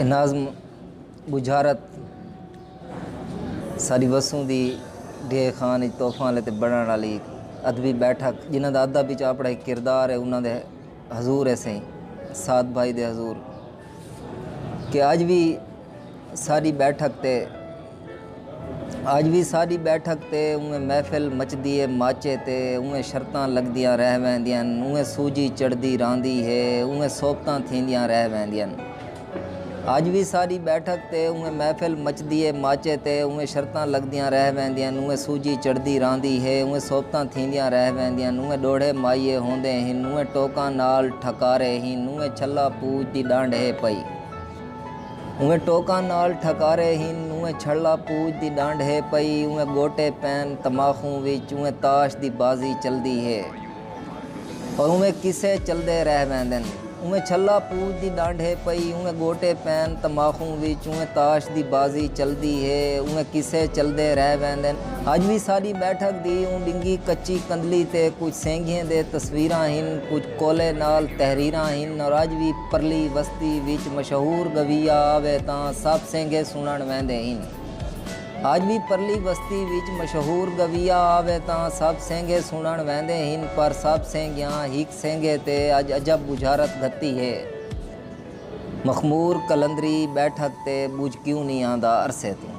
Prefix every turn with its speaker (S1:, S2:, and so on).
S1: ناظم ٻجھارت ساری وسوں دی ڈیہہ خان اچ تحفاں لے تے بنڑن والی ادبی بیٹھک جنہاں دا ادب اچ اپنا ایک کردار ہے انہاں دے حضور ہے سائیں سعد بھائی دے حضور کہ اج بھی ساری بیٹھک تے اج وی ساݙی ٻیٹھک تے اونویں محفل مچدی اے ماچے تے اونویں شرطاں لڳدیاں رہ ویندین اونویں سوجھی چڑھدی راہندی ہے اونویں صحبتاں تھیندیاں رہ ویندین اج وی ساݙی ٻیٹھک تے اونویں محفل مچدی اے ماچے تے اونویں شرطاں لڳدیاں رہ ویندین اونویں سوجھی چڑھدی راہندی ہے اونویں صحبتاں تھیندیاں رہ ویندین اونویں ݙوہڑے مائیے ہوندے ہن اونویں ٹوکاں نال ٹھکارے ہن اونویں چھلا پوج دی ݙانڈھ ہے پئی اوئیں ٹوکاں نال ٹھکارے ہن، اوئیں چھڑلا پوج دی ݙانڈھ ہے پئی، اوئیں ڳوٹے پین تماخوں وچ، اوئیں تاش دی بازی چلدی ہے اور اوئیں قصے چلدے رہ ویندن۔ اوئیں چھلا پوج دی ݙانڈھ ہے پئی، اوئیں ڳوٹے پین تماخوں وچ، اوئیں تاش دی بازی چلدی ہے، اوئیں قصے چلدے رہ ویندن۔ اڄ وی ساݙی ٻیٹھک دی اوں ݙنگھی کچی کندھلی تے کجھ سینگھیں دے تصویراں ہن، کجھ کولے نال تحریراں ہن اور اڄ وی۔ پرلی وستی وچ مشہور گویا آوے تاں سب سینگھے سنݨ ویندے ہن۔ اڄ وی پرلی وستی وچ مشہور گویا آوے تاں سب سینگھے سنݨ ویندے ہن پر سب سینگھیاں ہک سینگھے تے اڄ عجب ٻجھارت گھتی ہے۔ مخمور قلندری ٻیٹھک تے ٻجھ کیوں نی آندا عرصے توں۔